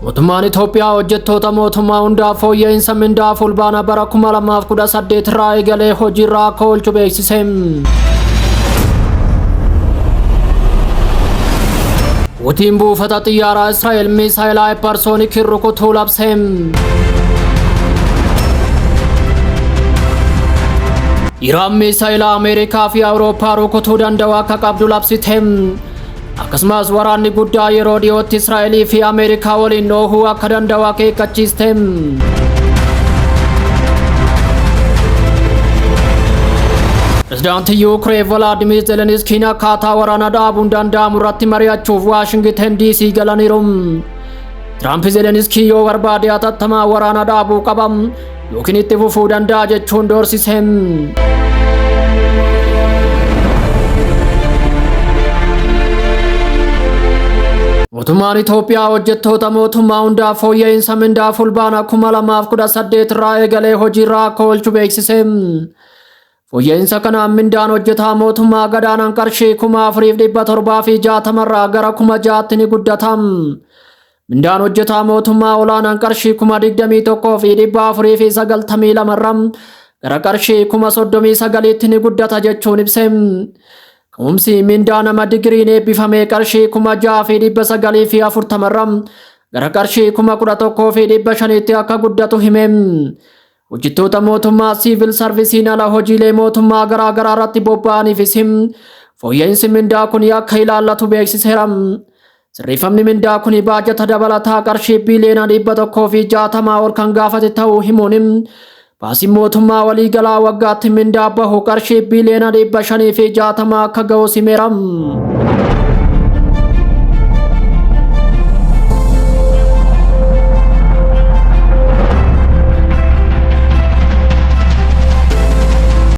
Mootummaan Itoophiyaa hojjettoota mootummaa hundaaf fooyya'insa mindaa fulbaana bara 2018 irraa eegalee hojiirraa akka oolchu beeksise. Hutiin buufata xiyyaaraa Israa'el miisaayila haayiparsoonikiin rukutuu labse. Iraan miisaayila Ameerikaa fi Awurooppaa rukutuu danda'u akka qabdu labsite. Akkasumas waraanni guddaa yeroo dhiyootti Israa'elii fi Ameerikaa waliin dhoohuu akka danda'u akeekkachiiste. Pirezidaantii Yuukireen Volaadimiir Zeleniskiin akkaataa waraana dhaabuun danda'amu irratti mari'achuuf Waashingiten DC galaniiru. Tiraamp Zeleniskii yoo barbaade hatattamaa waraana dhaabuu qaba yookiin itti fufuu danda'a jechuun doorsise. Mootummaan Itoophiyaa hojjettoota mootummaa hundaaf fooyya'insa mindaa fulbaana 2018 irraa eegalee hojiirraa akka oolchu beeksise. Fooyya'insa kanaan mindaan hojjetaa mootummaa gadaanaan qarshii kuma afuriif dhibba torbaa fi jaatama irraa gara kuma ja'aatti ni guddata. Mindaan hojjetaa mootummaa olaanaan qarshii kuma digdamii tokkoo fi dhibba afurii fi sagaltamii lama irraa gara qarshii kuma soddomii sagaliitti ni guddata jechuun ibse. Ka'umsi mindaa nama digiriin eebbifamee qarshii kuma ja'aa fi dhibba sagalii fi afurtama irraa gara qarshii kuma kudha tokkoo fi dhibba shaniitti akka guddatu hime. Hojjettoota mootummaa siivil sarvisiin ala hojiilee mootummaa garaa garaa irratti bobba'aniifis fooyya'insi mindaa kun akka ilaallatu beeksiseera. Sirreeffamni mindaa kun baajata dabalataa qarshii biiliyoona dhibba tokkoo fi jaatamaa ol kan gaafate ta'uu himuun baasiin mootummaa waliigalaa waggaatti mindaa bahu qarshii biiliyoona dhibba shanii fi jaatamaa akka ga'u himeera.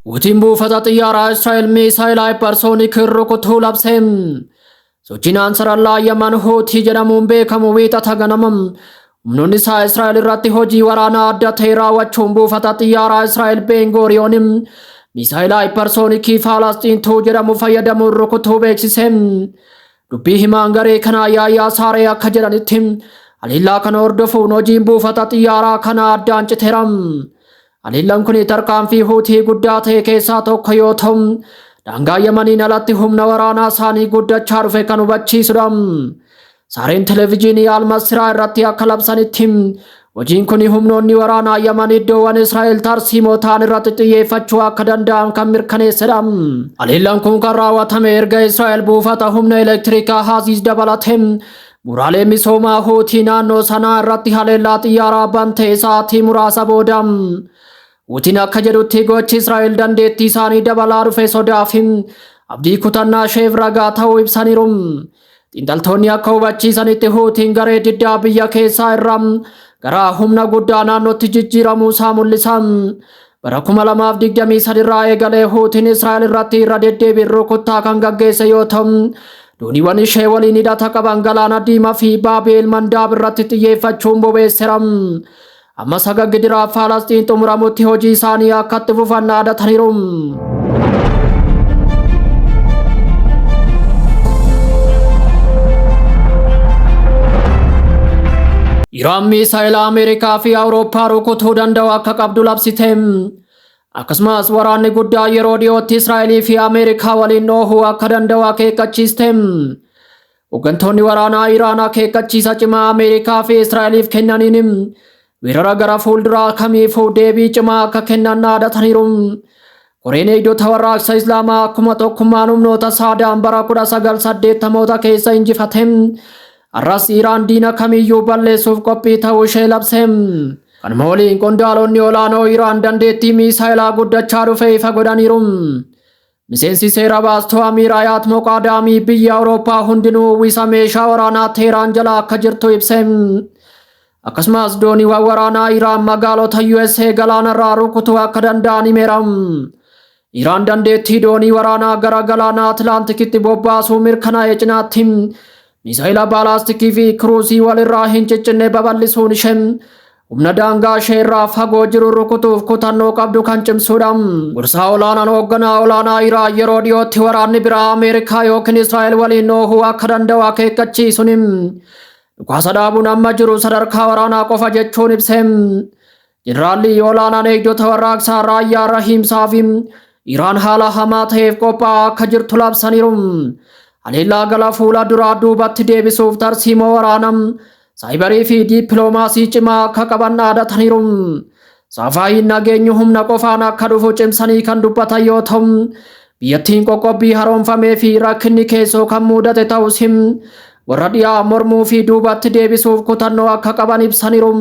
Hutiin buufata xiyyaaraa Israa'el miisaayil haayiparsooniik rukutuu labse. Sochiin Ansarallaa Yaman Huutii jedhamuun beekamu wiixata ganama Humnoonni isaa Israa'el irratti hojii waraanaa adda ta'e raawwachuun buufata xiyyaaraa Israa'el Beengooriyoon misaayila haayiparsoonikii Faalasxiin tuu jedhamu fayyadamuun rukutuu beeksise. Dubbii himaan garee kanaa Yaayyaa Saaree akka jedhanitti haleellaa kana hordofuun hojiin buufata xiyyaaraa kanaa addaan citeera. Haleellaan kun tarkaanfii Huutii guddaa ta'e keessaa tokko yoo ta'u, daangaa Yamaniin alatti humna waraanaa isaanii guddachaa dhufe kan hubachiisudha. Saareen televijiinii Almasiraa irratti akka labsanitti hojiin kun humnoonni waraanaa Yaman iddoowwan Israa'el tarsiimoo ta'an irratti xiyyeeffachuu akka danda'an kan mirkaneessedha. Haleellaan kun kan raawwatame erga Israa'el buufata humna elektirikaa Haaziis dabalatee Bu'uuraalee misoomaa Huutii naannoo sanaa irratti haleellaa xiyyaaraa bante sa'aatii muraasa booda Huutiin akka jedhutti gochi Israa'el dandeettii isaanii dabalaa dhufe sodaa fi abdii kutannaa isheef ragaa ta'uu ibsaniiru. Xiinxaltoonni akka hubachiisanitti Huutiin garee diddaa biyya keessaa irraa gara humna guddaa naannootti jijjiiramuu isaa mul'isa. Bara 2023 irraa eegalee Huutiin Israa'el irratti irra deddeebiin rukuttaa kan gaggeesse yoo ta'u, dooniiwwan ishee waliin hidhata qaban galaana diimaa fi Baabeel Mandaab irratti xiyyeeffachuun bobeessera. Amma saga gidiraa Faalasxiin xumuramutti hojii isaanii akka itti fufan dhaadataniiru. Iraan miisaayila Ameerikaa fi Awurooppaa rukutuu danda'u akka qabdu labsite. Akkasumas waraanni guddaa yeroo dhiyootti Israa'elii fi Ameerikaa waliin dhoohuu akka danda'u akeekkachiiste. Hooggantoonni waraanaa Iraan akeekkachiisa cimaa Ameerikaa fi Israa'eliif kennaniin weerara gara fuulduraa kamiifuu deebii cimaa akka kennan dhaadataniiru. Koreen eegdota warraaqsa Islaamaa akkuma tokkummaan humnoota saadaan bara 1980 keessa injifate har'as Iraan diina kamiyyuu balleessuuf qophii ta'uu ishee labse. Kanuma waliin qondaalonni olaanoo Iraan dandeettii miisaayilaa guddachaa dhufe ifa godhaniiru. Miseensi seera baastuu Amiir Ayaat Moqaadaamii biyya Awurooppaa hundinuu uwwisa meeshaa waraanaa Teeraan jala akka jirtu ibse. Akkasumas dooniiwwan waraanaa Iraan magaalota USA galaanarraa rukutuu akka danda'an himeera. Iraan dandeettii doonii waraanaa gara galaana Atlaantikitti bobbaasuu mirkanaa'e cinaatti misaayila baalaastikii fi kiruusii walirraa hin ciccinne babal'isuun ishee humna daangaa ishee irraa fagoo jiru rukutuuf kutannoo qabdu kan cimsuudha. Gorsaa olaanaan hoogganaa olaanaa Iraan yeroo dhiyootti waraanni biraa Ameerikaa yookiin Israa'el waliin oohuu akka danda'u akeekkachiisuun Dhukaasa dhaabuun amma jiru sadarkaa waraanaa qofa jechuun ibse. Jeneraalli olaanaan eegdota warraaqsaa raayyaa rahiimsaa fi Iraan haala hamaa ta'eef qophaa'aa akka jirtu labsaniiru. Haleellaa gara fuula duraa duubatti deebisuuf tarsiimoo waraanaa, saayibarii fi diippiloomaasii cimaa akka qaban dhaadataniiru. Safaayiin nageenyi humna qofaan akka dhufu cimsanii kan dubbatan yoo ta'u, biyyattiin qoqqobbii haroomfamee fi rakkinni keessoo kan muudate ta'us him warra dhiyaa mormuu fi duubatti deebisuuf kutannoo akka qaban ibsaniiru.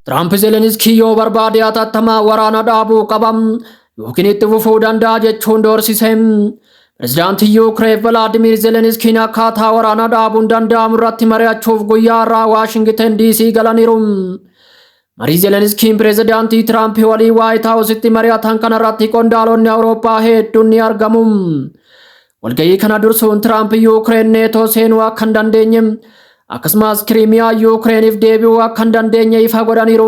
Tiraamp Zeleniskii yoo barbaade atattamaa waraana dhaabuu qabam yookiin itti fufuu danda'a jechuun doorsise. Pirezidaantiin Yuukireen Velaadimiir Zeleniskiin akkaataa waraana dhaabuun danda'amu irratti mari'achuuf guyyaa har'aa Waashingiten DC galaniiru. Marii Zeleniskiin pirezidaantii Tiraamp walii Waayit Haawusitti mari'atan kanarratti qondaalonni Awurooppaa hedduun ni argamu. Walga'ii kana dursuun Tiraamp Yuukireen neetoo seenuu akka hin dandeenye Akkasumas Kiriimiyaa Yuukireeniif deebi'uu akka hin dandeenye ifa godhaniiru.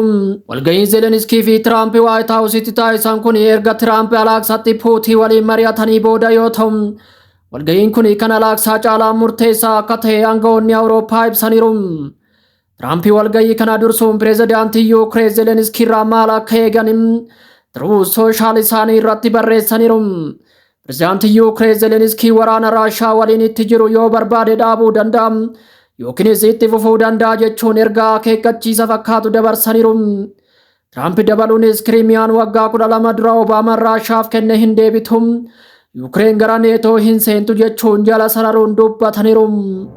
Walga'iin Zelenskii fi Tiraamp Waayit Haawusitti taasisan kun erga Tiraamp Alaaksaatti Puutii waliin mari'atanii booda yoo ta'u, walga'iin kun kan Alaaksaa caalaa murteessaa akka ta'e aangawoonni Awurooppaa ibsaniiru. Tiraamp walga'ii kana dursuun pireezidaantii Yuukireen Zelenskii irraa maal akka eegan Tiruus Sooshaal isaanii irratti barreessaniiru. Pirezidaantiin Yuukireen Zeleniskii waraana Raashaa waliin itti jiru yoo barbaade dhaabuu danda'a yookiinis itti fufuu danda'a jechuun ergaa akeekkachiisa fakkaatu dabarsaniiru. Tiraamp dabaluunis Kiriimiyaan waggaa kudha lama dura Obaamaan Raashaaf kenne hin deebitu. Yuukireen gara neetoo hin seentu jechuun jala sararuun dubbataniiru.